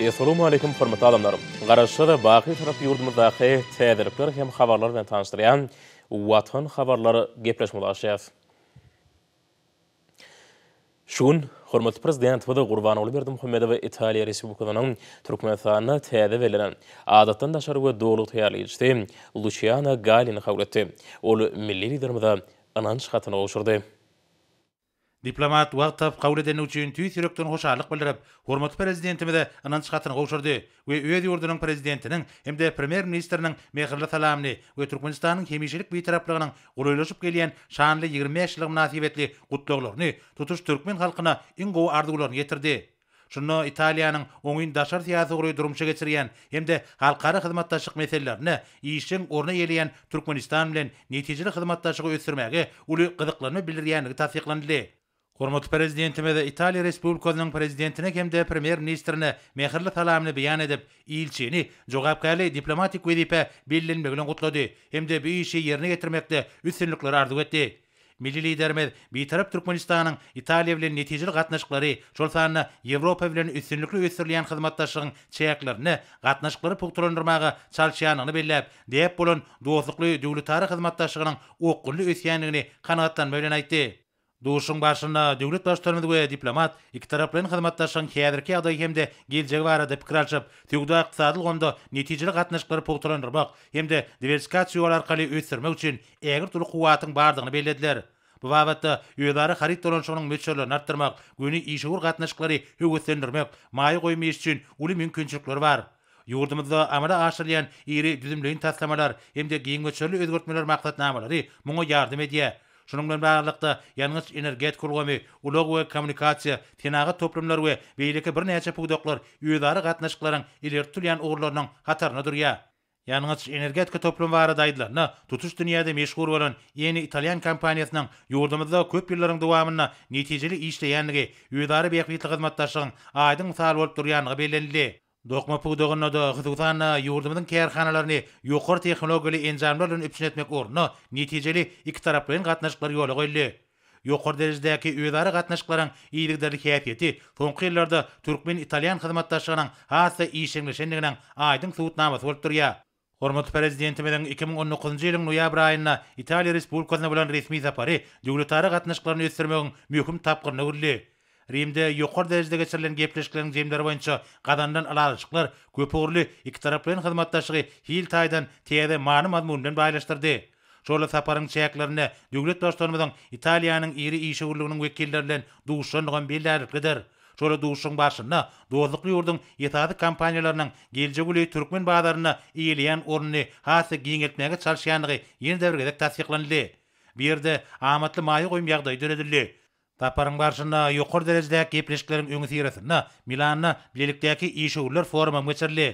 Essalawmaleýkim hormatly adamlar! Garaşsyz, baky Şarap ýurdumyzdaky täzelikler hem habarlar bilen tanyşdyrýan Watan habarlar gepleşigimizi açýas. Şu gün hormatly Prezidentimiz Gurbanguly Berdimuhamedow Italiýa Respublikasynyň Türkmenistanda täze bellenen Adatdan daşary we Dogulgyk taýýarlaýjysy Luçiano Gallini kabul etdi. Ol milli Liderimize ynanç hatyny gowşurdy. Diplomat wagt tapyp kabul edendigi üçin tüýs ýürekden hoşallyk bildirip, hormatly Prezidentimize ynanç hatyny gowşurdy we öz ýurdunyň Prezidentiniň hem-de Premýer-ministriniň mähirli salamyny we Türkmenistanyň hemişelik Bitaraplygynyň golaýlaşyp gelýän şanly ýigrimi bäş ýyly mynasybetli gutlaglaryny tutuş türkmen halkyna iň gowy arzuwlaryny ýetirdi. Şunda Italiýanyň oňyn daşary syýasy ugry durmuşa geçirýän hem-de halkara hyzmatdaşlyk meselelerinde işjeň orun eýeleýän Türkmenistan bilen netijeli hyzmatdaşlygy ösdürmäge uly gyzyklanma bildirýändigi tassyklanyldy. Hormatly Prezidentimiz Italiýa Respublikasynyň Prezidentine hem-de Premýer-ministrine mähirli salamyny beýan edip, ilçini jogapkärli diplomatik wezipä bellenmegi bilen gutlady hem-de bu işi ýerine ýetirmekde üstünlikleri arzuw etdi. Milli Liderimiz Bitarap Türkmenistanyň Italiýa bilen netijeli gatnaşyklary, şol sanda Ýewropa bilen üstünlikli ösdürilýän hyzmatdaşlygyň çäklerinde gatnaşyklary pugtalandyrmaga çalyşýandygyny belläp, däp bolan dostlukly döwletara hyzmatdaşlygynyň okgunly ösýändigini kanagatlanma bilen aýtdy. Duşuşygyň barşynda döwlet Baştutanymyz we diplomat ikitaraplaýyn hyzmatdaşlygyň häzirki ýagdaýy hem-de geljegi barada pikir alşyp, söwda-ykdysady ulgamda netijeli gatnaşyklary pugtalandyrmak hem-de diwersikasiýa ýoly arkaly ösdürmek üçin ägirt uly kuwwatyň bardygyny bellediler. Bu babatda özara haryt dolanyşygynyň möçberlerini artdyrmak, göni işewür gatnaşyklary höweslendirmek, maýa goýum iş üçin uly mümkinçilikler bar. Ýurdumyzda amala aşyrylýan iri düzümleýin taslamalar hem-de giň möçberli özgertmeler maksatnamalary muňa ýardam edýär. Şunuň bilen baglylykda, ýangyç-energetika ulgamy, ulag we kommunikasiýa, senagat toplumlary we beýleki birnäçe pudaklar özara gatnaşyklaryň ileri tutulýan ugurlarynyň hatarynda durýar. Ýangyç-energetika toplumy barada aýdylanda, tutuş dünýäde meşhur bolan Eni italýan kompaniýasynyň ýurdumyzda köp ýyllaryň dowamynda netijeli işleýändigi, özara bähbitli hyzmatdaşlygyň aýdyň mysaly bolup durýandygy bellenildi. Dokma pudagynda-da, hususan-da, ýurdumyzyň kärhanalaryny ýokary tehnologiýaly enjamlar bilen üpjün etmek ugrunda netijeli ikitaraplaýyn gatnaşyklar ýola goýuldy. Ýokary derejedäki özara gatnaşyklaryň yzygiderli häsiýeti soňky ýyllarda türkmen-italýan hyzmatdaşlygynyň has-da işjeňleşendiginiň aýdyň subutnamasy bolup durýar. Hormatly Prezidentimiziň iki müň on dokuzynjy ýylyň noýabr aýynda Italiýa Respublikasyna bolan resmi sapary döwletara gatnaşyklaryny ösdürmegiň möhüm tapgyryna öwrüldi. Rimde ýokary derejede geçirilen gepleşikleriň jemleri boýunça gazanylan ylalaşyklar köpugurly ikitaraplaýyn hyzmatdaşlygy hil taýdan täze many-mazmun bilen baýlaşdyrdy. Şol saparyň çäklerinde döwlet Baştutanymyzyň Italiýanyň iri işewürliginiň wekilleri bilen duşuşandygam bellärliklidir. Şol duşuşygyň barşynda dostlukly ýurduň esasy kompaniýalarynyň geljek uly türkmen bazarynda eýeleýän ornuny has-da giňeltmäge çalyşýandygy ýene-de bir gezek tassyklanyldy. Bu ýerde amatly maýa goýum ýagdaýy döredildi. Saparyň barşynda ýokary derejedäki gepleşikleriň öňüsyrasynda Milanda bilelikdäki işewürler forumam geçirildi.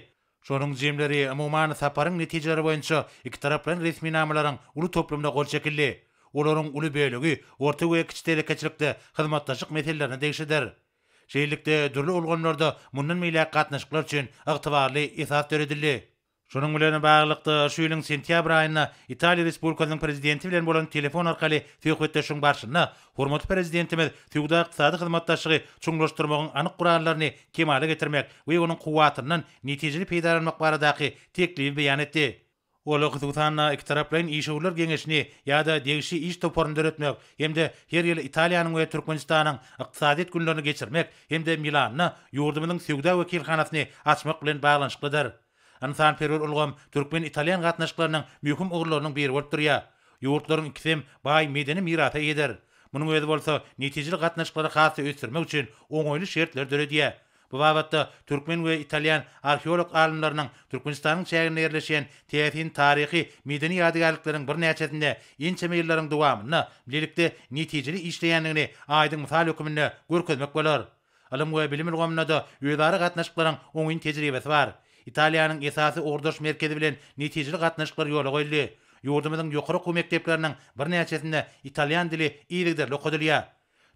Şonuň jemleri, umuman, saparyň netijeleri boýunça ikitaraplaýyn resminamalaryň uly toplumyna gol çekildi. Olaryň uly bölegi orta we kiçi telekeçilikde hyzmatdaşlyk meselelerine degişlidir. Şeýlelikde, dürli ulgamlarda mundan beýläk gatnaşyklar üçin ygtybarly esas döredildi. Şunuň bilen baglylykda, şu ýylyň sentýabr aýynda Italiýa Respublikasynyň Prezidenti bilen bolan telefon arkaly söhbetdeşligiň barşynda hormatly Prezidentimiz söwda-ykdysady hyzmatdaşlygy çuňlaşdyrmagyň anyk gurallaryny kemala getirmek we onuň kuwwatyndan netijeli peýdalanmak baradaky teklibi beýan etdi. Ol, hususan-da, ikitaraplaýyn işewürler geňeşini ýa-da degişli iş toparyny döretmek, hem-de her ýyl Italiýanyň we Türkmenistanyň Ykdysadyýet günlerini geçirmek hem-de Milanda ýurdumyzyň söwda wekilhanasyny açmak bilen baglanyşyklydyr. Ynsanperwer ulgam türkmen-italýan gatnaşyklarynyň möhüm ugurlarynyň biri bolup durýar. Ýurtlaryň ikisem baý medeni mirasa eýedir. Munuň özi bolsa netijeli gatnaşyklary has-da ösdürmek üçin oňaýly şertleri döredýär. Bu babatda türkmen we italýan arheolog alymlarynyň Türkmenistanyň çäginde ýerleşýän täsin taryhy, medeni ýadygärlikleriň birnäçesinde ençeme ýyllaryň dowamynda bilelikde netijeli işleýändigini aýdyň mysal höküminde görkezmek bolar. Ylym we bilim ulgamynda-da özara gatnaşyklaryň oňyn tejribesi bar. Italiýanyň esasy ugurdaş merkezi bilen netijeli gatnaşyklar ýola goýuldy. Ýurdumyzyň ýokary okuw mekdepleriniň birnäçesinde italýan dili yzygiderli okadylýar.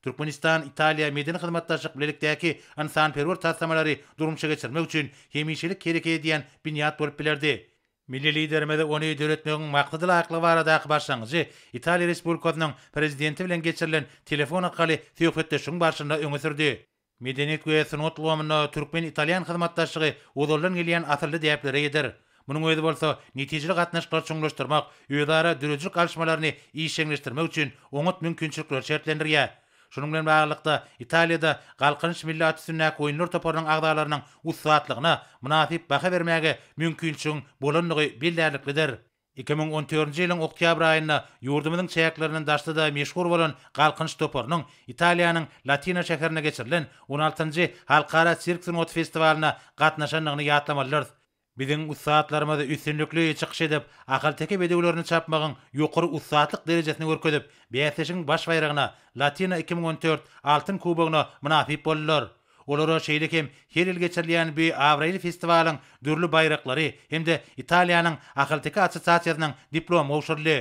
Türkmenistan, Italiýa medeni hyzmatdaşlyk bilelikdäki ynsanperwer taslamalary durmuşa geçirmek üçin hemişelik hereket edýän binýat bolup bilerdi. Milli Liderimiz ony döretmegiň maksada laýyklygy baradaky başlangyjy Italiýa Respublikasynyň Prezidenti bilen geçirilen telefon arkaly söhbetdeşligiň barşynda öňe sürdi. Medeniýet we sungat ulgamynda türkmen-italýan hyzmatdaşlygy ozaldan gelýän asylly däplere ýeder. Munuň özi bolsa netijeli gatnaşyklary çuňlaşdyrmak, özara döredijilik alyşmalaryny işjeňleşdirmek üçin oňat mümkinçilikleri şertlendirýär. Şunuň bilen baglylykda, Italiýada Galkynyş milli at üstündäki oýunlar toparynyň agzalarynyň ussatlygyna mynasyp baha bermäge mümkinçiligiň bolandygy bellärliklidir. Iki müň on dördünji ýylyň oktýabr aýynda ýurdumyzyň çäklerinden daşda-da meşhur bolan Galkynyş toparynyň Italiýanyň Latina şäherinde geçirilen on altynjy Halkara sirk sungaty festiwalyna gatnaşandygyny ýatlamalydyrys. Biziň ussatlarymyz üstünlikli çykyş edip, ahalteke bedewlerini çapmagyň ýokary ussatlyk derejesini görkezip, bäsleşigiň baş baýragyna, Latina iki müň on dört Altyn kubogyna mynasyp boldular. Olara şeýle hem her ýyl geçirilýän bi abraýly festiwalyň dürli baýraklary hem-de Italiýanyň ahalteke assosiasiýasynyň diplomy gowşuryldy.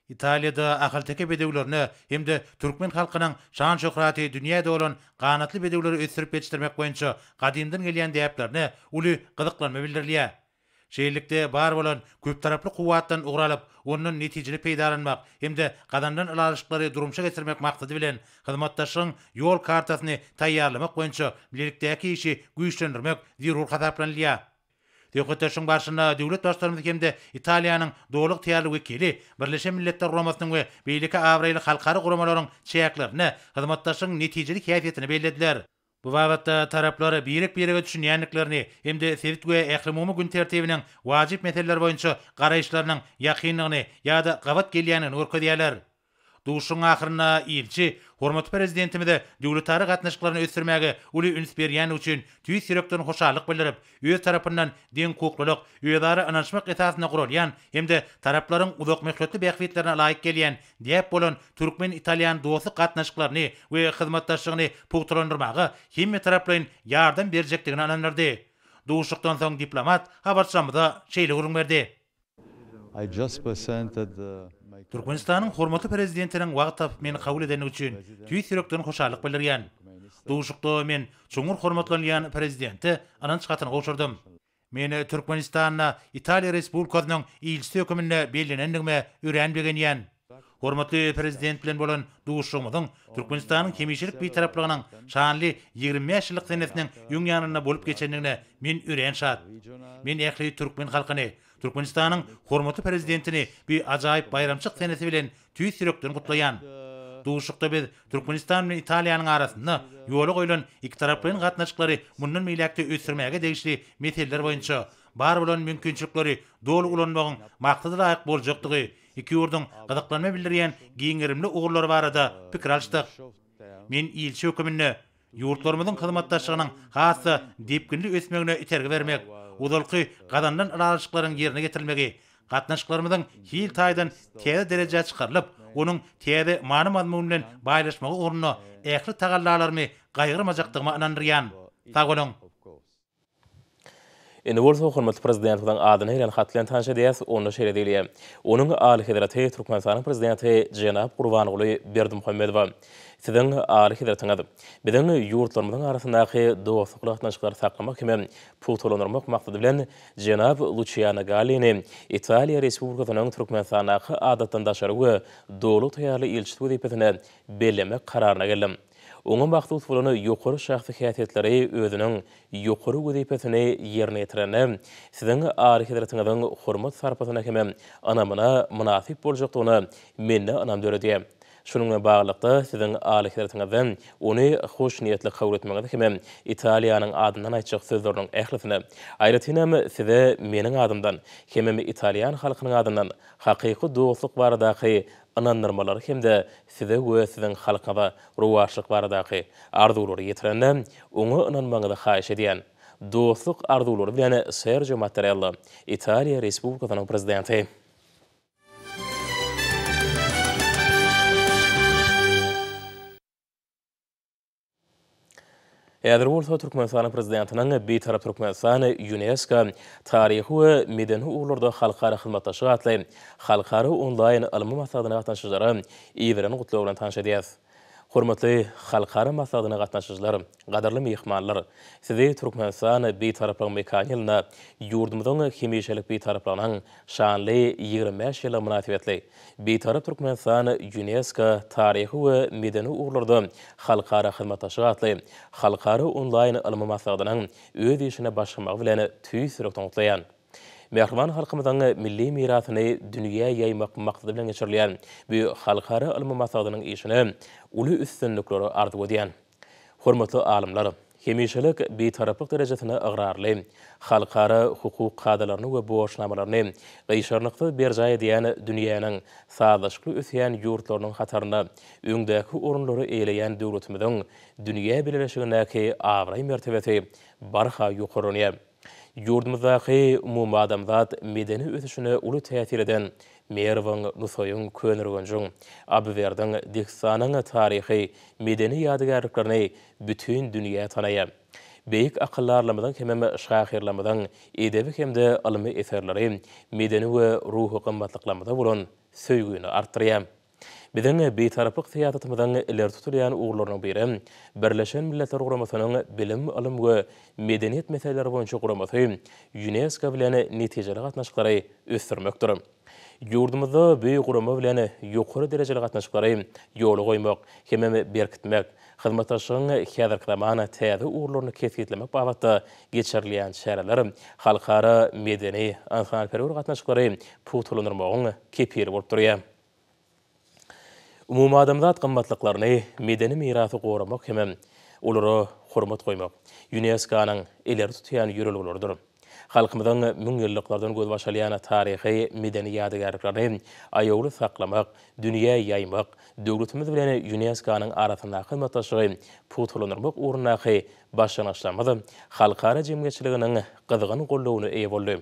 Italiýada ahalteke bedewlerine hem-de türkmen halkynyň şan-şöhraty dünýä dolan ganatly bedewleri ösdürip ýetişdirmek boýunça gadymdan gelýän däplerine uly gyzyklanma bildirilýär. Şeýlelikde, bar bolan köptaraply kuwwatdan ugur alyp, ondan netijeli peýdalanmak hem-de gazanylan ylalaşyklary durmuşa geçirmek maksady bilen, hyzmatdaşlygyň Ýol kartasyny taýýarlamak boýunça bilelikdäki işi güýçlendirmek zerur hasaplanylýar. Söhbetdeşligiň barşynda döwlet Baştutanymyz hem-de Italiýanyň doly ygtyýarly wekili Birleşen Milletler Guramasynyň we beýleki abraýly halkara guramalaryň çäklerinde hyzmatdaşlygyň netijeli häsiýetini bellediler. Bu babatda taraplar birek-birege düşünýändiklerini hem-de sebit we ählumumy gün tertibiniň wajyp meseleleri boýunça garaýyşlarynyň ýakyndygyny ýa-da gabat gelýändigini görkezýärler. Duşuşygyň ahyrynda Ilçi hormatly Prezidentimize döwletara gatnaşyklaryny ösdürmäge uly üns berýändigi üçin tüýs ýürekden hoşallyk bildirip, öz tarapyndan deňhukuklylyk, özara ynanyşmak esasynda guralýan hem-de taraplaryň uzakmöhletli bähbitlerine laýyk gelýän däp bolan türkmen-italýan dostluk gatnaşyklaryny we hyzmatdaşlygyny pugtalandyrmaga hemmetaraplaýyn ýardam berjekdigine ynandyrdy. Duşuşykdan soň diplomat habarçylarymyza şeýle gürrüň berdi. Türkmenistanyň hormatly Prezidentiniň wagt tapyp meni kabul edendigi üçin tüýs ýürekden hoşallyk bildirýän. Duşuşykda men çuňňur hormatlanylýan Prezidente ynanç hatyny gowşurdym. Men Türkmenistanda Italiýa Respublikasynyň Ilçisi höküminde bellenendigime örän begenýän. Hormatly Prezident bilen bolan duşuşygymyzyň Türkmenistanyň hemişelik Bitaraplygynyň şanly ýigrimi bäş ýyllyk senesiniň öň ýanynda bolup geçendigine men örän şat. Men ähli türkmen halkyny, Türkmenistanyň hormatly Prezidentini bu ajaýyp baýramçyk senesi bilen tüýs ýürekden gutlaýan. Duşuşykda biz Türkmenistan bilen Italiýanyň arasynda ýola goýlan ikitaraplaýyn gatnaşyklary mundan beýläk-de ösdürmäge degişli meseleler boýunça bar bolan mümkinçilikleri doly ulanmagyň maksadalaýyk boljakdygy Iki ýurduň gyzyklanma bildirýän giň gerimli ugurlary barada pikir alyşdyk. Men ilçi höküminde, ýurtlarymyzyň hyzmatdaşlygynyň has-da depginli ösmegine itergi bermek, ozalky gazanylan ylalaşyklaryň ýerine getirilmegi, gatnaşyklarymyzyň hil taýdan täze derejä çykarylyp, onuň täze many-mazmun bilen baýlaşmagy ugrunda ähli tagallalarymy gaýgyrmajakdygyma ynandyrýan. Sag boluň! Indi bolsa hormatly Prezidentimiziň adyny ýazan hat bilen tanyş edýäris, onda şeýle diýilýär, Onuň Alyhezreti Türkmenistanyň Prezidenti jenap Gurbanguly Berdimuhamedowa, Siziň Alyhezretiňiz, biziň ýurtlarymyzyň arasyndaky dostlukly gatnaşyklary saklamak hem-ä pugtalandyrmak maksady bilen jenap Luçiano Gallini Italiýa Respublikasynyň Türkmenistandaky Adatdan daşary we Doly taýýarly ilçisi wezipesine bellemek kararyna geldim. Oňa mahsus bolan ýokary şahsy häsiýetleri özüniň ýokary wezipesini ýerine ýetirende, Siziň Alyhezretiňiziň hormat-sarpasyna hem ynamyna mynasyp boljakdygyna mende ynam döredýär. Şunuň bilen baglylykda, Siziň Alyhezretiňizden ony hoşniýetli kabul etmegiňizi hem Italiýanyň adyndan aýtjak sözleriniň ählisini, aýratynam Size meniň adymdan hemem italýan halkynyň adyndan hakyky dostluk baradaky ynandyrmalary hem-de size we siziň halkyňyza rowaçlyk baradaky arzuwlary ýetirende, oňa ynanmagyňyzy haýyş edýän. Dostluk arzuwlary bilen Serjo Mattarella, Italiýa Respublikasynyň Prezidenti. Häzir bolsa Türkmenistanyň Prezidentiniň Bitarap Türkmenistan, Ýunesko, Taryhy we medeni ugurlarda halkara hyzmatdaşlyk atly halkara onlaýn ylmy maslahatyna gatnaşyjylary iberen gutlagy bilen tanyş edýäris. Hormatly halkara maslahatyna gatnaşyjylar, gadyrly myhmanlar! Sizi Türkmenistan Bitaraplygyň mekany ýylynda ýurdumyzyň hemişelik Bitaraplygynyň şanly ýigrimi bäş ýyllygy mynasybetli Bitarap Türkmenistan Ýunesko, Taryhy we medeni ugurlarda halkara hyzmatdaşlyk atly halkara onlaýn ylmy maslahatynyň öz işine başlamagy bilen tüýs ýürekden gutlaýan. Mähriban halkymyzyň milli mirasyny dünýä ýaýmak maksady bilen geçirilýän bu halkara ylmy maslahatynyň işine uly üstünlikleri arzuw edýän. Hormatly alymlar, hemişelik Bitaraplyk derejesine ygrarly, halkara hukuk kadalaryny we borçnamalaryny gyşarnyksyz berjaý edýän dünýäniň sazlaşykly ösýän ýurtlarynyň hatarynda öňdäki orunlary eýeleýän döwletimiziň dünýä bileleşigindäki abraý-mertebesi barha ýokarlanýar. Ýurdumyzdaky umumadamzat medeni ösüşine uly täsir eden Merwiň, Nusaýyň, Köneürgenjiň, Abywerdiň, Dehistanyň taryhy, medeni ýadygärliklerini bütin dünýä tanaýar. Beýik akyldarlarymyzyň hemem şahyrlarymyzyň edebi hem-de ylmy eserleri medeni we ruhy gymmatlyklarymyza bolan söýgini artdyrýar. Biziň Bitaraplyk syýasatymyzyň ileri tutulýan ugurlarynyň biri Birleşen Milletler Guramasynyň Bilim, ylym we medeniýet meseleleri boýunça guramasy, Ýunesko, bilen netijeli gatnaşyklary ösdürmekdir. Ýurdumyzda bu gurama bilen ýokary derejeli gatnaşyklary ýola goýmak hemem berkitmek, hyzmatdaşlygyň häzirki zaman täze ugurlaryny kesgitlemek babatda geçirilýän çäreler halkara medeni-ynsanperwer gatnaşyklary pugtalandyrmagyň kepili bolup durýar. Umumadamzat gymmatlyklaryny, medeni mirasy goramak hem-ä olara hormat goýmak Ýunesko-nyň ileri tutýan ýörelgeleridir. Halkymyzyň müňýyllyklardan gözbaş alýan taryhy, medeni ýadygärliklerini aýawly saklamak, dünýä ýaýmak, döwletimiz bilen Ýunesko-nyň arasyndaky hyzmatdaşlygy pugtalandyrmak ugrundaky başlangyçlarymyz halkara jemgyýetçiliginiň gyzgyn goldawyna eýe boldy.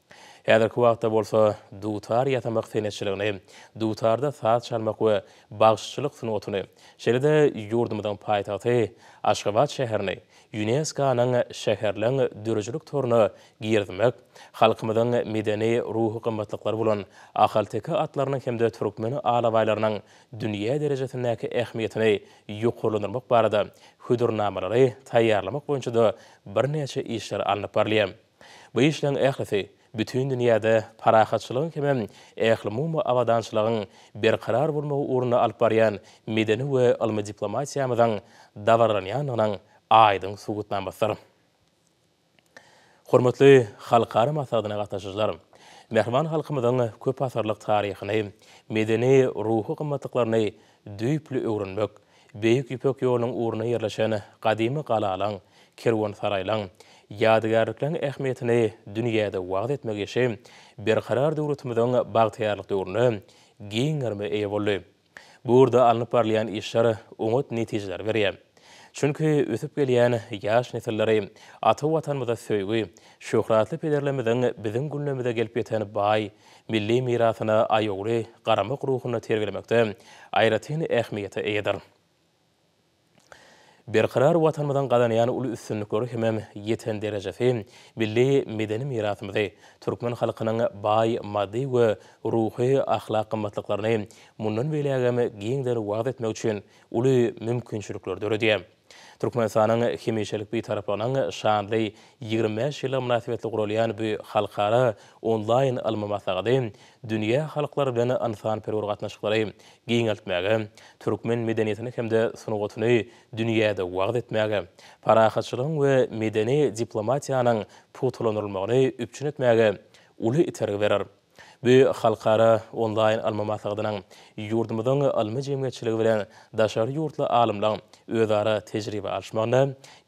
Häzirki wagtda bolsa dutar ýasamak senetçiligini, dutarda saz çalmak we bagşyçylyk sungatyny, şeýle-de ýurdumyzyň paýtagty Aşgabat şäherini Ýunesko-nyň şäherleň döredijilik toruna girizmek, halkymyzyň medeni-ruhy gymmatlyklary bolan ahalteke atlarynyň hem-de türkmen alabaýlarynyň dünýä derejesindäki ähmiýetini ýokarlandyrmak barada hödürnamalary taýýarlamak boýunça-da birnäçe işler alnyp barylýar. Bu işleriň ählisi bütin dünýäde parahatçylygyň hemem ählumumy abadançylygyň berkarar bolmagy ugrunda alyp barýan medeni we ylmy diplomatiýamyzyň dabaralanýandygynyň aýdyň subutnamasydyr. Hormatly halkara maslahatyna gatnaşyjylar! Mähriban halkymyzyň köpasyrlyk taryhyny, medeni, ruhy gymmatlyklaryny düýpli öwrenmek, Beýik Ýüpek ýolunyň ugrunda ýerleşen gadymy galalaň, kerwensaraýlaň, ýadygärlikleň ähmiýetini dünýäde wagyz etmek işi Berkarar döwletimiziň bagtyýarlyk döwründe giň gerime eýe boldy. Bu ugurda alnyp barylýan işler oňat netijeleri berýär. Çünki ösüp gelýän ýaş nesilleri ata Watanymyza söýgi, şöhratly pederlerimiziň biziň günlerimize gelip ýeten baý milli mirasyna aýawly garamak ruhuny terbiýelemekde aýratyn ähmiýete eýedir. Berkarar Watanymyzyň gazanýan uly üstünlikleri hemem ýeten derejesi milli medeni mirasymyzy, türkmen halkynyň baý maddy we ruhy-ahlak gymmatlyklaryny mundan beýlägem giňden wagyz etmek üçin uly mümkinçilikleri döredýär. Türkmenistanyň hemişelik Bitaraplygynyň şanly ýigrimi bäş ýyllygy mynasybetli guralýan bu halkara onlaýn ylmy maslahady dünýä halklary bilen ynsanperwer gatnaşyklary giňeltmäge, türkmen medeniýetini hem-de sungatyny dünýäde wagyz etmäge, parahatçylygyň we medeni diplomatiýanyň pugtalandyrylmagyny üpjün etmäge uly itergi berer. Bu halkara onlaýn ylmy maslahatynyň ýurdumyzyň ylmy jemgyýetçiligi bilen daşary ýurtly alymlaryň özara tejribe alyşmagynda,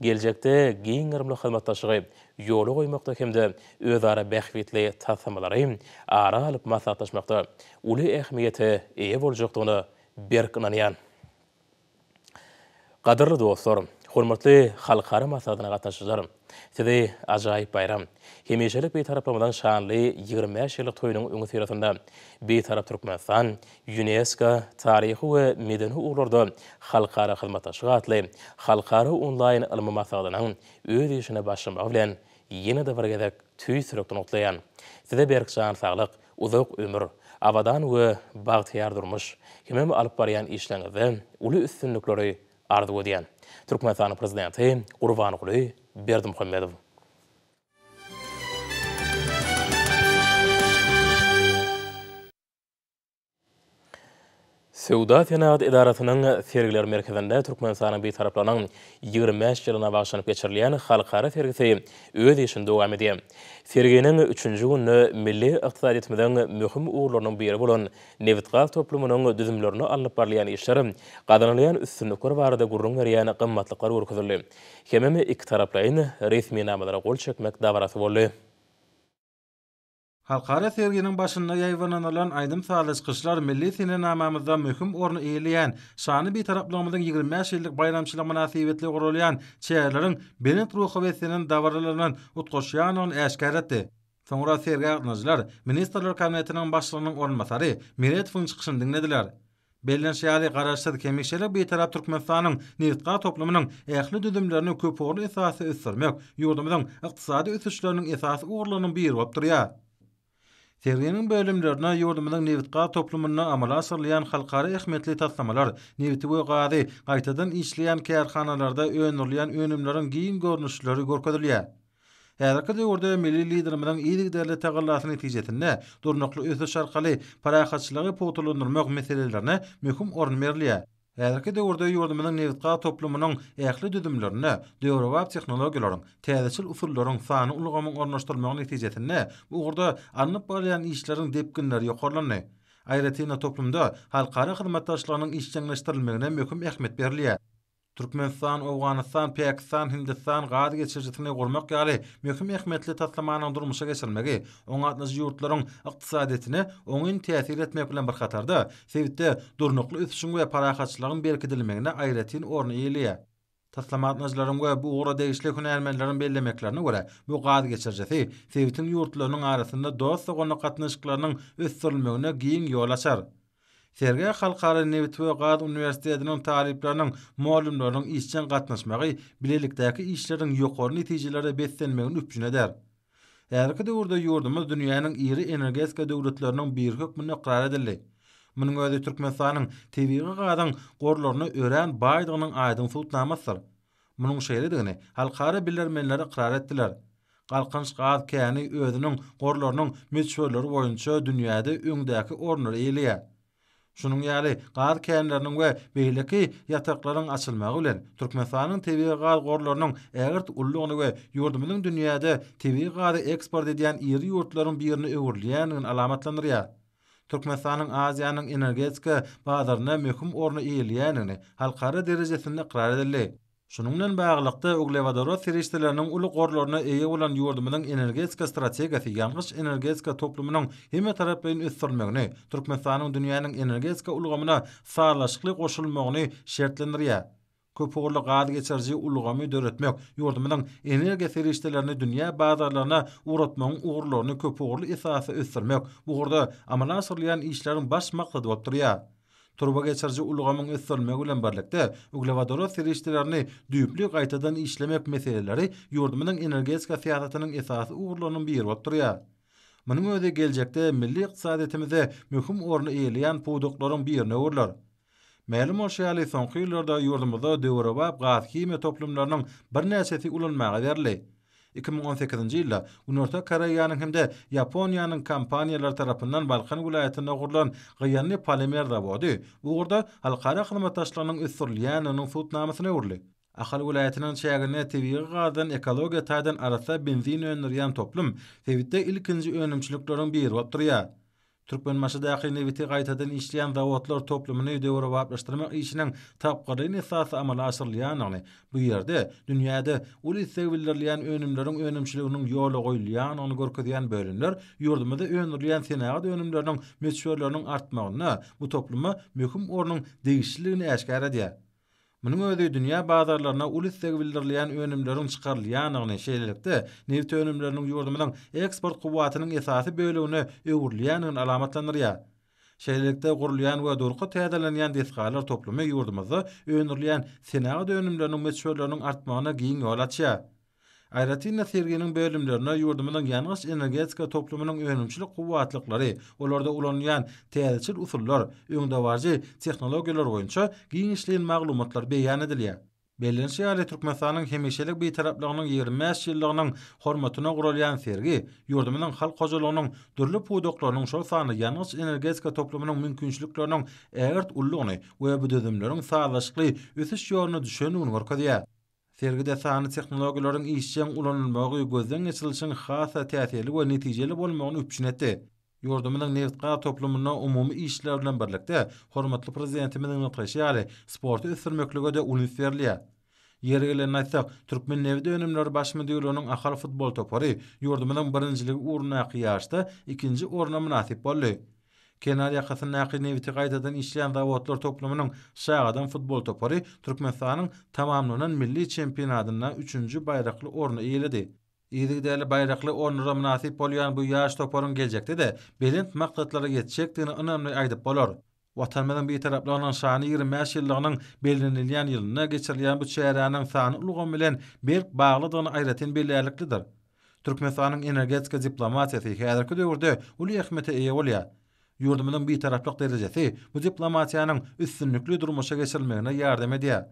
geljekde giň gyrymly hyzmatdaşlygy ýola goýmakda hem-de özara bähbitli taslamalary ara alyp maslahatlaşmakda uly ähmiýete eýe boljakdygyna berk ynanýan. Gadyrly dostlar, hormatly halkara maslahatyna gatnaşyjylar! Sizi ajaýyp baýram, hemişelik Bitaraplygymyzyň şanly ýigrimi bäş ýyllyk toýunyň öňüsyrasynda Bitarap Türkmenistan Ýunesko, Taryhy we medeni ugurlarda halkara hyzmatdaşlyk atly halkara onlaýn ylmy maslahatynyň öz işine başlamagy bilen ýene-de bir gezek tüýs ýürekden gutlaýan. Size berk jan saglyk, Uzak ömür, abadan we bagtyýar durmuş, hemem alyp barýan işleriňizde uly üstünlikleri arzuw edýän. Türkmenistanyň Prezidenti Gurbanguly Berdimuhamedow. Söwda-senagat edarasynyň Sergiler merkezinde Türkmenistanyň Bitaraplarynyň ýigrimi bäş ýylyna bagyşlanyp geçirilýän halkara sergisi öz işini dowam edýär. Serginiň üçünji gününe milli ykdysadyýetimiziň möhüm ugurlarynyň biri bolan nebitgaz toplumynyň düzümlerinde alnyp barylýan işler, gazanylýan üstünlikler barada gürrüň berýän gymmatlyklar görkezildi hemem ikitaraplaýyn resminamalara gol çekmek dabarasy boldy. Halkara serginiň başynda ýaýbanynylan aýdym-sazly çykyşlar milli senenamamyzda möhüm orny eýeleýän Şanly Bitaraplygymyzyň ýigrimi bäş ýyllyk baýramçylygy mynasybetli guralýan çäreleriň belent ruha beslenen dabaralaryndan utgaşýandygyny äşgär etdi. Soňra sergä gatnažylar Ministrler Kabinetiniň Başlygynyň orunbasary Meretowyň çykyşyny diňlediler. Bellenişi ýaly, Garaşsyz, hemişelik Bitarap Türkmenistanyň nebitgaz toplumynyň ähli düzümlerini köpugurly esasda ösdürmek ýurdumyzyň ykdysady ösüşleriniň esasy ugurlarynyň biri bolup durýar. Serginiň bölümlerine ýurdumyzyň nebitgaz toplumynda amala aşyrylýan halkara ähmiýetli taslamalar, nebiti we gazy gaýtadan işleýän kärhanalarda öndürilýän önümleriň giň görnüşleri görkezilýär. Häzirki döwürde milli Liderimiziň yzygiderli tagallasy netijesinde durnukly ösüş arkaly parahatçylygy pugtalandyrmak meselelerine möhüm orun berilýär. Häzirki döwürde ýurdumyzyň nebitgaz toplumynyň ähli düzümlerinde döwrebap tehnologiýalaryň, täzeçil usullaryň, sanly ulgamyň ornaşdyrylmagy netijesinde bu ugurda alnyp barylýan işleriň depginleri ýokarlandy. Aýratyn-da, toplumda halkara hyzmatdaşlygynyň işjeňleşdirilmegine möhüm ähmiýet berilýär. Türkmenistan, Owganystan, Pakistan, Hindistan gaz geçirijisini gurmak ýaly möhüm ähmiýetli taslamanyň durmuşa geçirilmegi oňa gatnaşyjy ýurtlaryň ykdysadyýetine oňyn täsir etmek bilen bir hatarda, sebitde durnukly ösüşiň we parahatçylygyň berkidilmegine aýratyn orun eýeleýär. Taslama gatnaşyjylaryň we bu ugra degişli hünärmenleriň bellemeklerine görä, bu gaz geçirijisi sebitiň ýurtlarynyň arasynda dost-doganlyk gatnaşyklarynyň ösdürilmegine giň ýol açar. Sergä Halkara nebit we gaz uniwersitetiniň talyplarynyň, mugallymlarynyň işjeň gatnaşmagy bilelikdäki işleriň ýokary netijelere beslenmegini üpjün eder. Häzirki döwürde ýurdumyz dünýäniň iri energetika döwletleriniň biri hökmünde ykrar edildi. Munuň özi Türkmenistanyň tebigy gazyň gorlaryna örän baýdygynyň aýdyň subutnamasydyr. Munuň şeýledigini halkara bilermenleri ykrar etdiler. Galkynç gaz käni özüniň gorlarynyň möçberleri boýunça dünýäde öňdäki orunlary eýeleýär. Şunuň ýaly gaz känleriniň we beýleki ýataklaryň açylmagy bilen, Türkmenistanyň tebigy gaz gorlarynyň ägirt uludygyny we ýurdumyzyň dünýäde tebigy gazy eksport edýän iri ýurtlaryň birine öwrülýändigini alamatlandyrýar. Türkmenistanyň Aziýanyň energetika bazarynda möhüm orny eýeleýändigini halkara derejesinde ykrar edildi. Şunuň bilen baglylykda, uglewodorod serişdeleriniň uly gorlaryna eýe bolan ýurdumyzyň energetika strategiýasy ýangyç-energetika toplumynyň hemmetaraplaýyn ösdürilmegini, Türkmenistanyň dünýäniň energetika ulgamyna sazlaşykly goşulmagyny şertlendirýär. köpugurly gaz geçiriji ulgamy döretmek, ýurdumyzyň energiýa serişdelerini dünýä bazarlaryna ugratmagyň ugurlaryny köpugurly esasda ösdürmek bu ugurda amala aşyrylýan işleriň baş maksady bolup durýar. Turba geçiriji ulgamyň ösdürilmegi bilen birlikde, uglewodorod serişdelerini düýpli gaýtadan işlemek meseleleri ýurdumyzyň energetika syýasatynyň esasy ugurlarynyň biri bolup durýar. Munuň özi geljekde milli ykdysadyýetimizde möhüm orny eýeleýän pudaklaryň birine öwrüler. Mälim bolşy ýaly, soňky ýyllarda ýurdumyzda döwrebap gaz-himiýa toplumlarynyň birnäçesi ulanmaga berildi. Iki müň on sekizinji ýylda Günorta Koreýanyň hem-de Ýaponiýanyň kompaniýalary tarapyndan Balkan welaýatynda gurlan Gyýanly polimer zawody bu ugurda halkara hyzmatdaşlygynyň ösdürilýändiginiň subutnamasyna öwrüldi. Ahal welaýatynyň çäginde tebigy gazdan ekologiýa taýdan arassa benzin öndürýän toplum sebitde ilkinji önümçilikleriň biri bolup durýar. Türkmenbaşydaky nebiti gaýtadan işleýän zawodlar toplumyny döwrebaplaşdyrmak işiniň tapgyrlaýyn esasda amala aşyrylýandygyny, bu ýerde dünýäde uly isleg bildirilýän önümleriň önümçiliginiň ýola goýulýandygyny görkezýän bölümler ýurdumyzda öndürilýän senagat önümleriniň möçberleriniň artmagynda bu topluma möhüm ornuň degişlidigini äşgär edýär. Munuň özi dünýä bazarlaryna uly isleg bildirilýän önümleriň çykarylýandygyny, şeýlelikde, nebit önümleriniň ýurdumyzyň eksport kuwwatynyň esasy bölegine öwrülýändigini alamatlandyrýar. Şeýlelikde, gurulýan we durky täzelenýän desgalar toplumy ýurdumyzda öndürilýän senagat önümleriniň möçberleriniň artmagyna giň ýol açýar. Aýratyn-da, serginiň bölümlerine ýurdumyzyň ýangyç-energetika toplumynyň önümçilik kuwwatlyklary, olarda ulanylýan täzeçil usullar, öňdebaryjy tehnologiýalar boýunça giňişleýin maglumatlar beýan edilýär. Bellenişi ýaly, Türkmenistanyň hemişelik Bitaraplygynyň ýigrimi bäş ýyllygynyň hormatyna guralýan sergi ýurdumyzyň halk hojalygynyň dürli pudaklarynyň, şol sanda ýangyç-energetika toplumynyň mümkinçilikleriniň ägirt uludygyny we bu düzümleriň sazlaşykly ösüş ýoluna düşendigini görkezýär. Sergide sanly tehnologiýalaryň işjeň ulanylmagy gözden geçirilişiň has-da täsirli we netijeli bolmagyny üpjün etdi. Ýurdumyzyň nebit-gaz toplumynda umumy işler bilen birlikde, hormatly Prezidentimiziň nygtaýşy ýaly, sporty ösdürmeklige-de uly üns berilýär. Ýeri gelende aýtsak, Türkmennebitönümleri baş müdirliginiň Ahal futbol topary ýurdumyzyň birinjiligi ugrundaky ýaryşda ikinji orna mynasyp boldy. Kenar ýakasyndaky nebiti gaýtadan işleýän zawodlar toplumynyň Şagadam futbol topary Türkmenistanyň tamamlanan milli çempionatynda üçünji baýrakly orny eýeledi. Yzygiderli baýrakly ornlara mynasyp bolýan bu ýaş toparyň geljekde-de belent maksatlara ýetjekdigini ynamly aýdyp bolar. Watanymyzyň Bitaraplygynyň şanly ýigrimi bäş ýyllygynyň bellenilýän ýylynda geçirilýän bu çäräniň sanly ulgam bilen berk baglydygyny aýratyn belläliklidir. Türkmenistanyň energetika diplomatiýasy häzirki döwürde uly ähmiýete eýe bolýar. Ýurdumyzyň Bitaraplyk derejesi bu diplomatiýanyň üstünlikli durmuşa geçirilmegine ýardam edýär.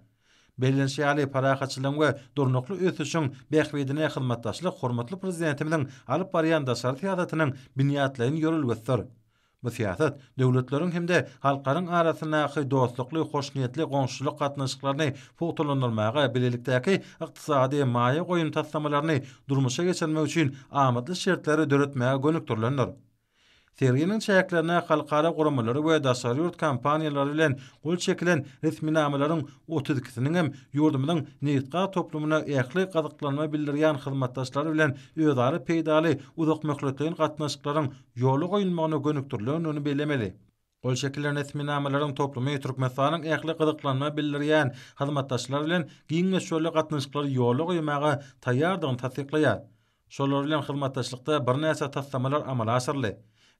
Bellenişi ýaly, parahatçylygyň we durnukly ösüşiň bähbidine hyzmatdaşlyk hormatly Prezidentimiziň alyp barýan daşary syýasatynyň binýatlaýyn ýörelgesidir. Bu syýasat döwletleriň hem-de halklaryň arasyndaky dostlukly, hoşniýetli goňşuçylyk gatnaşyklaryny pugtalandyrmaga, bilelikdäki ykdysady, maýa goýum taslamalaryny durmuşa geçirmek üçin amatly şertleri döretmäge gönükdirilendir. Serginiň çäklerine halkara guramalary we daşary ýurt kompaniýalary bilen gol çekilen resminamalaryň otuz ikisiniň hem ýurdumyzyň nebitgaz toplumyna ähli gyzyklanma bildirýän hyzmatdaşlary bilen özara peýdaly uzakmöhletleýin gatnaşyklaryň ýola goýulmagyna gönükdirilendigini bellemeli. Gol çekilen resminamalaryň toplumy Türkmenistanyň ähli gyzyklanma bildirýän hyzmatdaşlary bilen giň möçberli gatnaşyklary ýola goýmaga taýýardygyny tassyklaýar. Şolar bilen hyzmatdaşlykda birnäçe taslamalar amala aşyryldy.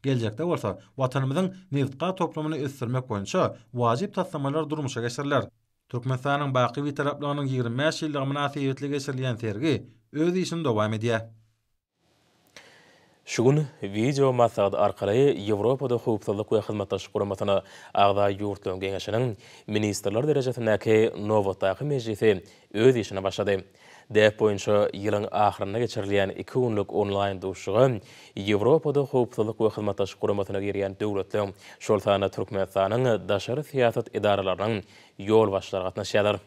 Geljekde bolsa Watanymyzyň nebit-gaz toplumyny ösdürmek boýunça wajyp taslamalar durmuşa geçiriler. Türkmenistanyň baky Bitaraplygynyň ýigrimi bäş ýyllygy mynasybetli geçirilýän sergi öz işini dowam edýär. Şu gün wideo maslahat arkaly Ýewropada Howpsuzlyk we Hyzmatdaşlyk Guramasyna agza ýurtlaryň geňeşiniň ministrler derejesindäki nobatdaky mejlisi öz işine başlady. Däp boýunça ýylyň ahyrynda geçirilýän iki günlük onlaýn duşuşyga Ýewropada Howpsuzlyk we Hyzmatdaşlyk Guramasyna girýän döwletleriň, şol sanda Türkmenistanyň daşary syýasat edaralarynyň ýolbaşçylary gatnaşýarlar.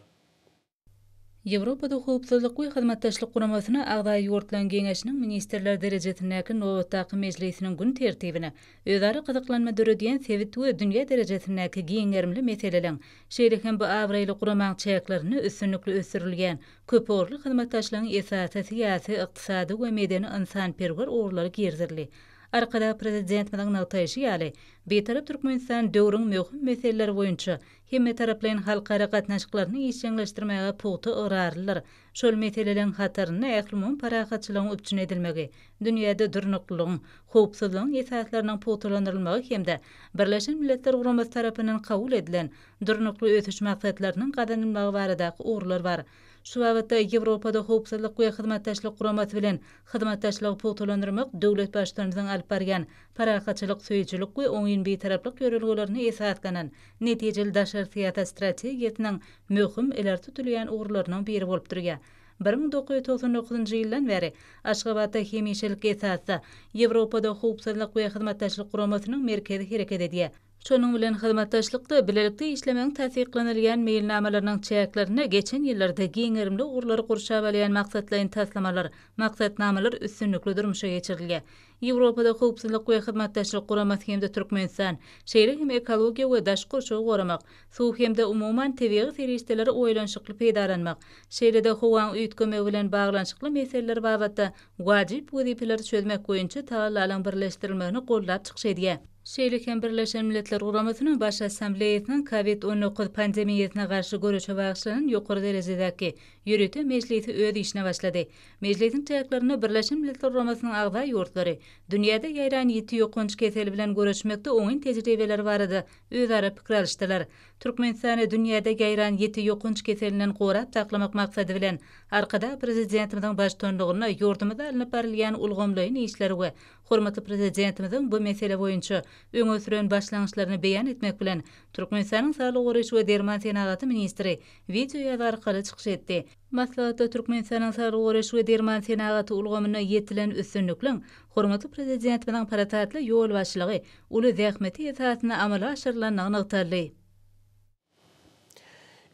Ýewropada Howpsuzlyk we Hyzmatdaşlyk Guramasyna agza ýurtlaryň Geňeşiniň ministrler derejesindäki nobatdaky mejlisiniň gün tertibine özara gyzyklanma döredýän sebit we dünýä derejesindäki giň gerimli meseleleň, şeýle hem bu abraýly guramaň çäklerinde üstünlikli ösdürilýän köpugurly hyzmatdaşlygyň esasy syýasy, ykdysady we medeni-ynsanperwer ugurlary girizildi. Arkadag Prezidentimiziň nygtaýşy ýaly, Bitarap Türkmenistan döwrüň möhüm meseleleri boýunça hemmetaraplaýyn halkara gatnaşyklaryny işjeňleşdirmäge pugta ygrarlydyr. Şol meseleleriň hatarynda ählumumy parahatçylygyň üpjün edilmegi, dünýäde durnuklylygyň, howpsuzlygyň esaslarynyň pugtalandyrylmagy hem-de Birleşen Milletler Guramasy tarapyndan kabul edilen Durnukly ösüş maksatlarynyň gazanylmagy baradaky ugurlar bar. Şu babatda Ýewropada Howpsuzlyk we Hyzmatdaşlyk Guramasy bilen hyzmatdaşlygy pugtalandyrmak döwlet Baştutanymyzyň alyp barýan parahatçylyk söýüjilik we oňyn bitaraplyk ýörelgelerine esaslanan netijeli daşary syýasat strategiýasynyň möhüm ileri tutulýan ugurlarynyň biri bolup durýar. Bir müň dokuz ýüz togsan dokuzynjy ýyldan bäri Aşgabatda hemişelik esasda Ýewropada Howpsuzlyk we Hyzmatdaşlyk Guramasynyň merkezi hereket edýär. Şonuň bilen hyzmatdaşlykda bilelikde işlemegiň tassyklanylýan meýilnamalarynyň çäklerinde geçen ýyllarda giň gerimli ugurlary gurşap alýan maksatlaýyn taslamalar, maksatnamalar üstünlikli durmuşa geçirilýär. Ýewropada Howpsuzlyk we Hyzmatdaşlyk Guramasy hem-de Türkmenistan, şeýle hem ekologiýa we daşky gurşawy goramak, suw hem-de umuman tebigy serişdeleri oýlanyşykly peýdalanmak, şeýle-de howaň üýtgemegi bilen baglanyşykly meseleler babatda wajyp wezipeleri çözmek boýunça tagallalaryň birleşdirilmegini goldap çykyş edýär. Şeýle hem Birleşen Milletler Guramasynyň Baş Assambleýasynyň Kowid on dokuz pandemiýasyna garşy göreşe bagyşlanan ýokary derejedäki ýörite mejlisi öz işine başlady. Mejlisiň çäklerinde Birleşen Milletler Guramasynyň agza ýurtlary dünýäde ýaýran ýiti ýokanç keseli bilen göreşmekde oňyn tejribeleri barada özara pikir alyşdylar. Türkmenistany dünýäde ýaýran ýiti ýokanç keselinden gorap saklamak maksady bilen, Arkadag Prezidentimiziň baştutanlygynda ýurdumyzda alnyp barylýan ulgamlaýyn işleri we hormatly Prezidentimiziň bu mesele boýunça öňe süren başlangyçlaryny beýan etmek bilen, Türkmenistanyň Saglygy goraýyş we derman senagaty ministri wideoýazgy arkaly çykyş etdi. Maslahatda Türkmenistanyň saglygy goraýyş we derman senagaty ulgamynda ýetilen üstünlikliň, hormatly Prezidentimiziň parasatly ýolbaşçylygy, uly zähmeti esasynda amala aşyrylandygy nygtaldy.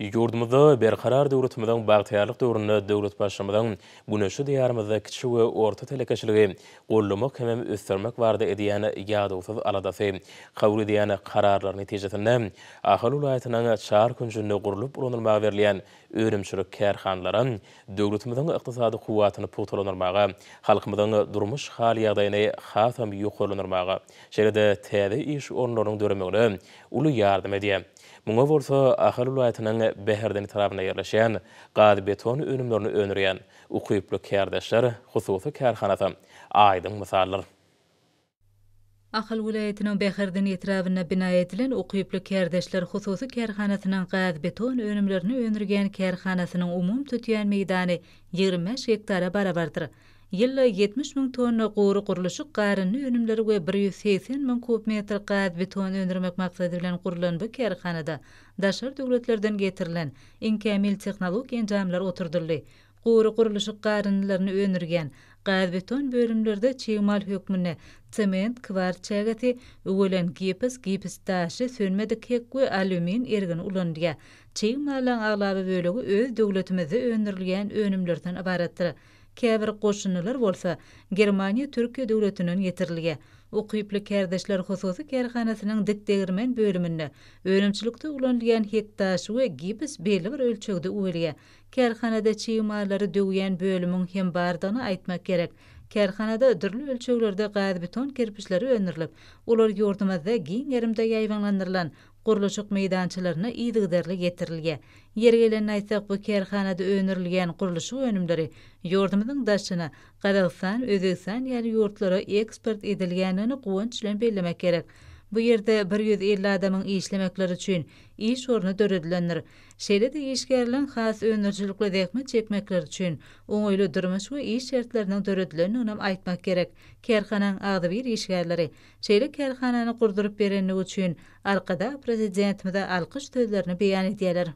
Ýurdumyzda Berkarar döwletimiziň bagtyýarlyk döwründe döwlet Baştutmyzyň Güneşli Diýarymyzda kiçi we orta telekeçiligi goldamak hemem ösdürmek barada edýän ýadawsyz aladasy, kabul edýän kararlary netijesinde Ahal welaýatynyň çar künjünde gurlup ulanylmaga berilýän önümçilik kärhanalary döwletimiziň ykdysady kuwwatyny pugtalandyrmaga, halkymyzyň durmuş hal-ýagdaýyny hasam ýokarlandyrmaga, şeýle-de täze iş orunlarynyň döremegine uly ýardam edýär. Muňa bolsa Ahal welaýatynyň Bäherden etrabynda ýerleşýän Gazbeton önümlerini öndürýän Ukyply kärdeşler hususy kärhanasy aýdyň mysaldyr. Ahal welaýatynyň Bäherden etrabynda bina edilen Ukyply kärdeşler hususy kärhanasynyň gazbeton önümlerini öndürýän kärhanasynyň umumy tutýan meýdany ýigrimi bäş gektara barabardyr. Ýylda ýetmiş müň tonna gury gurluşyk garyndy önümleri we bir ýüz segsen müň kub metr gazbeton öndürmek maksady bilen gurlan bu kärhanada daşary döwletlerden getirilen iň kämil tehnologik enjamlar oturdyldy. Gury gurluşyk garyndylaryny öndürýän, gazbeton bölümlerde çig mal hökmünde sement, kwars çägesi, üwelen gips, gips daşy, sönmedik hek we alýumin ergini ulanylýar. Çig mallaň aglaba bölegi öz döwletimizde öndürilýän önümlerden ybaratdyr. Käbir goşundylar bolsa, Germaniýa, Türkiýe döwletinden getirilýär. Ukyply kärdeşler hususy kärhanasynyň dik degirmen bölüminde önümçilikde ulanylýan hek daşy we gips belli bir ölçegde üwelýär, Kärhanada çig mallary döwýän bölümiň hem bardygyny aýtmak gerek. Kärhanada dürli ölçeglerde gazbeton kerpiçleri öndürilip, olar ýurdumyzda giň gerimde ýaýbaňlandyrylan gurluşyk meýdançalaryna yzygiderli getirilýär. Ýeri gelende aýtsak, bu kärhanada öndürilýän gurluşyk önümleri ýurdumyzyň daşyna, Gazagystan, Özbegistan ýaly ýurtlara eksport edilýändigini guwanç bilen bellemek gerek. Bu ýerde bir ýüz elli adamyň işlemekleri üçin iş orny döredilendir. şeýle-de işgärleriň has öndürijilikli zähmet çekmekleri üçin oňaýly durmuş we iş şertleriniň döredilendiginem aýtmak gerek. Kärhananyň agzybir işgärleri şeýle kärhanany gurduryp berendigi üçin Arkadag Prezidentimize alkyş sözlerini beýan edýärler.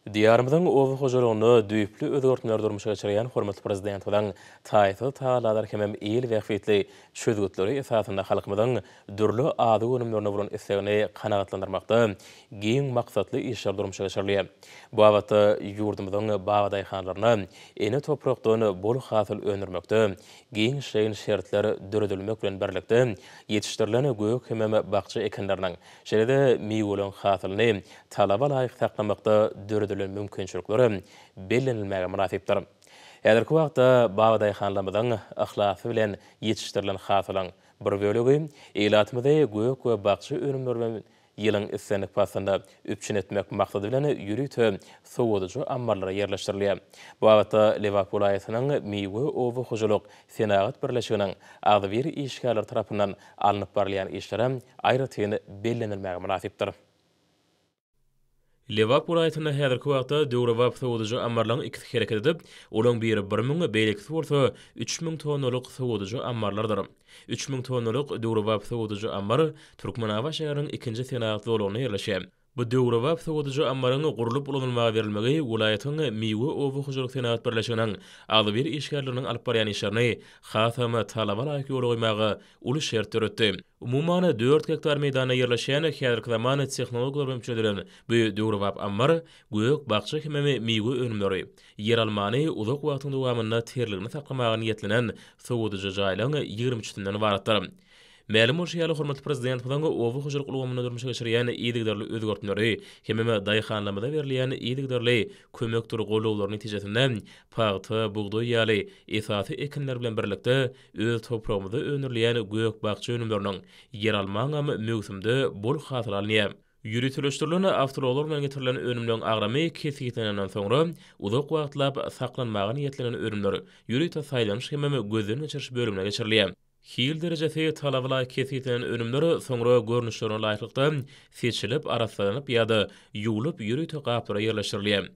Diýarymyzyň oba hojalygynda düýpli özgertmeleri durmuşa geçirýän hormatly Prezidentimiziň taýsyz tagallalar hemem il bähbitli çözgütleri esasynda halkymyzyň dürli azyk önümlerine bolan islegini kanagatlandyrmakda giň maksatly işler durmuşa geçirilýär. Bu babatda ýurdumyzyň babadaýhanlaryna ene toprakdan bol hasyl öndürmekde giňişleýin şertler döredilmek bilen birlikde, ýetişdirilen gök hemem bakja ekinleriniň, şeýle-de miweleriň hasylyny talaba laýyk saklamakda döredilen mümkinçilikler hem bellenilmäge mynasypdyr. Häzirki wagtda babadaýhanlarymyzyň yhlasy bilen ýetişdirilen hasylyň, Bir bölegi ilatymyzy gök we bakja önümleri bilen ýylyň islendik paslynda üpjün etmek maksady bilen ýörite sowadyjy ammarlara ýerleşdirilýär. Bu babatda Lebap welaýatynyň Miwe oba hojalyk senagat birleşiginiň agzybir işgärleri tarapyndan alnyp barylýan işler hem aýratyn bellenilmäge mynasypdyr. Lebap welaýatynda häzirki wagtda döwrebap sowadyjy ammarlaryň ikisi hereket edip, olaryň biri bir müň, beýlekisi bolsa üç müň tonnalyk sowadyjy ammarlardyr. Üç müň tonnalyk döwrebap sowadyjy ammar Türkmenabat şäheriniň ikinji senagat zolagynda ýerleşýär. Bu döwrebap sowadyjy ammaryň gurlup ulanylmaga berilmegi welaýatyň Miwe oba hojalyk senagat birleşiginiň agzybir işgärleriniň alyp barýan işlerini hasam talaba laýyk ýola goýmaga uly şert döretdi. Umuman, dört gektar meýdanda ýerleşen, häzirki zaman tehnologiýalar bilen çözülen bu döwrebap ammar gök-bakja hemem miwe önümleri, ýeralmany uzak wagtyň dowamynda terligini saklamaga niýetlenen sowadyjy jaýlaryň ýigrimi üçüsinden ybaratdyr. Mälim bolşy ýaly, hormatly Prezidentimiziň oba hojalyk ulgamynda durmuşa geçirýän yzygiderli özgertmeleri hemem daýhanlarymyza berilýän yzygiderli kömekdir goldawlaryň netijesinde pagta, bugdaý ýaly esasy ekinler bilen birlikde, Öz topragymyzda öndürilýän gök-bakja önümleriniň, ýeralmaňam möwsümde bol hasyl alynýar. Ýöriteleşdirilen awtoulaglar bilen getirilen önümleriň agramy kesgitlenenden soňra, uzak wagtlap saklanmaga niýetlenen önümler ýörite saýlanyş hemem gözden geçiriş bölümine geçirilýär. Hil derejesi talabalaýyk kesgitlenen önümler soňra görnüşlerine laýyklykda seçilip, arassalanyp ýa-da ýuwlup ýörite gaplara ýerleşdirilýär.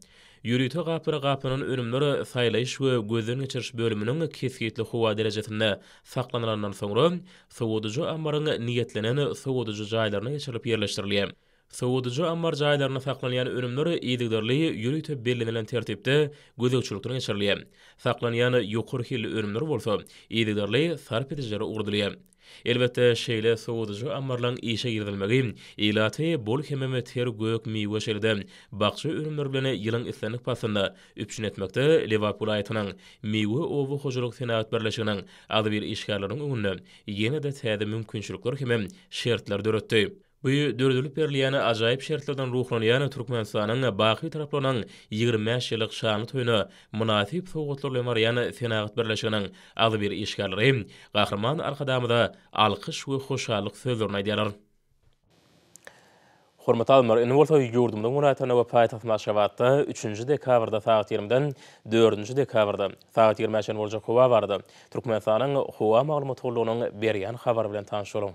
Ýörite gaplara gaplanan önümler saýlaýyş we gözden geçiriş bölüminiň kesgitli howa derejesinde saklanylandan soňra, sowadyjy ammaryň niýetlenen sowadyjy jaýlaryna geçirilip ýerleşdirilýär. Sowadyjy ammar jaýlarynda saklanýan önümler yzygiderli ýörite bellenilen tertipde gözegçilikden geçirilýär. Saklanýan ýokary hilli önümler bolsa yzygiderli sarp edijilere ugradylýar. Elbetde, şeýle sowadyjy ammarlaryň işe girizilmegi ilaty bol hemem ter gök miwe şeýle-de bakja önümleri bilen ýylyň islendik paslynda üpjün etmekde Lebap welaýatynyň Miwe oba hojalyk senagat birleşiginiň agzybir işgärleriniň öňünde ýene-de täze mümkinçilikler hemem şertler döretdi. Bu döredilip berilýän ajaýyp şertlerden ruhlanýan Türkmenistanyň baky taraplarynyň ýigrimi bäş ýyllyk şanly toýuna mynasyp sowgatlar bilen barýan Senagat birleşiginiň agzybir işgärleri Gahryman Arkadagymyza alkyş we hoşallyk sözlerini aýdýarlar. Hormatly alymlar, indi bolsa ýurdumyzyň welaýatlarynda we paýtagtymyz Aşgabatda üçünji dekabrda sagat ýigriminden dördünji dekabrda sagat ýigrimi-ä çenli boljak howa barada Türkmenistanyň Howa maglumat gullugynyň berýän habary bilen tanyşalyň.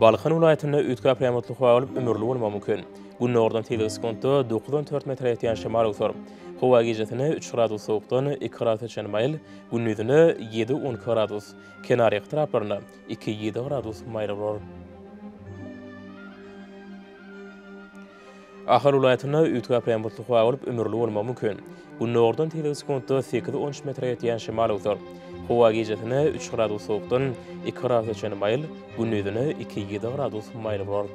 Balkan welaýatynda üýtgäp reamotly howa bolup, ümürli bolmagy mümkin. Gündogardan sekiz sekuntda dokuz on dört metre ýetýän şemal öwser. Howa gijesine üç gradus sowukdan iki gradusa çenli maýyl, gündizine ýedi on iki gradus, kenarýaka taraplarynda iki ýedi gradus maýyl bolar. Ahal welaýatynda üýtgäp äpýän butly howa bolup, ümürli bolmagy mümkin. Gündogardan tegelek sekuntda sekiz-on üç metre ýetýän şemal öwser. Howa gijesine üç gradus sowukdan iki gradusa çenli maýyl, gündizine iki-ýedi gradus maýyl bolar.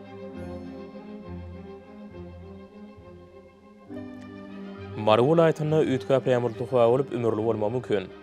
Mary welaýatynda üýtgäp äpýän butly howa bolup, ümürli bolmagy mümkin.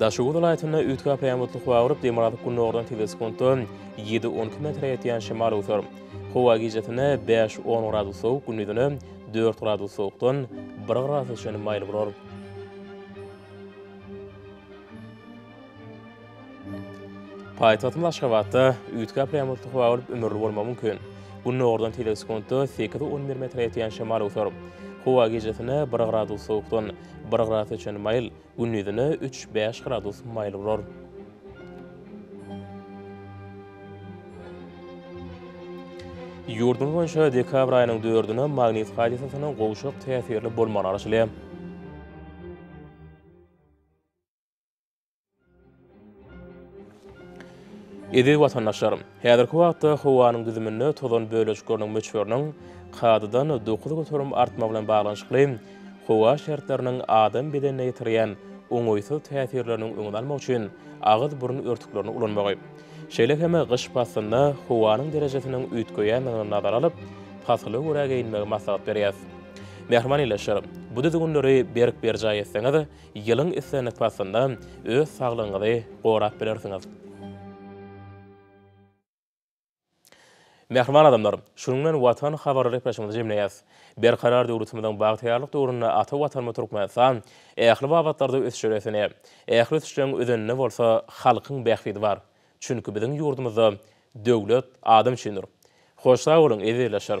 Daşoguz welaýatynda üýtgä pärmutlyk bagyryp, dem alyp gündogardan tizesi sekuntda ýedi-on iki metre ýetýän şemal öwser. Howa gijesine bäş-on gradus sowuk, gündizine dört gradus sowukdan bir gradusa çenli maýyl bolar. Paýtagtymyz Aşgabatda üýtgäp ýagmyrsuz howa bolup, ümürli bolmagy mümkin. Gündogardan teýze sekuntda sekiz-on bir metre ýetýän şemal öwser. Howa gijesine bir gradus sowukdan, bir gradusa çenli maýyl, gündizine üç-bäş gradus maýyl bolar. Ýurdumyz boýunça dekabr aýynyň dördüne magnit hadysasynyň gowşak täsirli bolmagy garaşylýar. Eziz watandaşlarym! Häzirki wagtda howanyň düzüminde tozan bölejikleriniň möçberiniň kadadan dokuz göterim artmagy bilen baglanyşykly, howa şertleriniň adam bedenine ýetirýän oňaýsyz täsirleriniň öňüni almak üçin agyz-burun örtüklerini ulanmagy, şeýle hem gyş paslynda howanyň derejesiniň üýtgeýändigini nazara alyp, pasyla görä geýinmegi maslahat berýäris. Mähriban ildeşlerim! Bu düzgünleri berk berjaý etseňiz, Ýylyň islendik paslynda öz saglygyňyzy gorap bilersiňiz. Mähriban adamlar, şunuň bilen Watan habarly gepleşigimizi jemleýäs. Berkarar döwletimiziň bagtyýarlyk döwründe ata Watanymyz Türkmenistan ähli babatlarda ösüşe beslenýär. Ähli ösüşleriň özeninde bolsa halkyň bähbidi bar. Çünki biziň ýurdumyzda Döwlet adam üçindir. Hoş sag boluň, ezizleşler!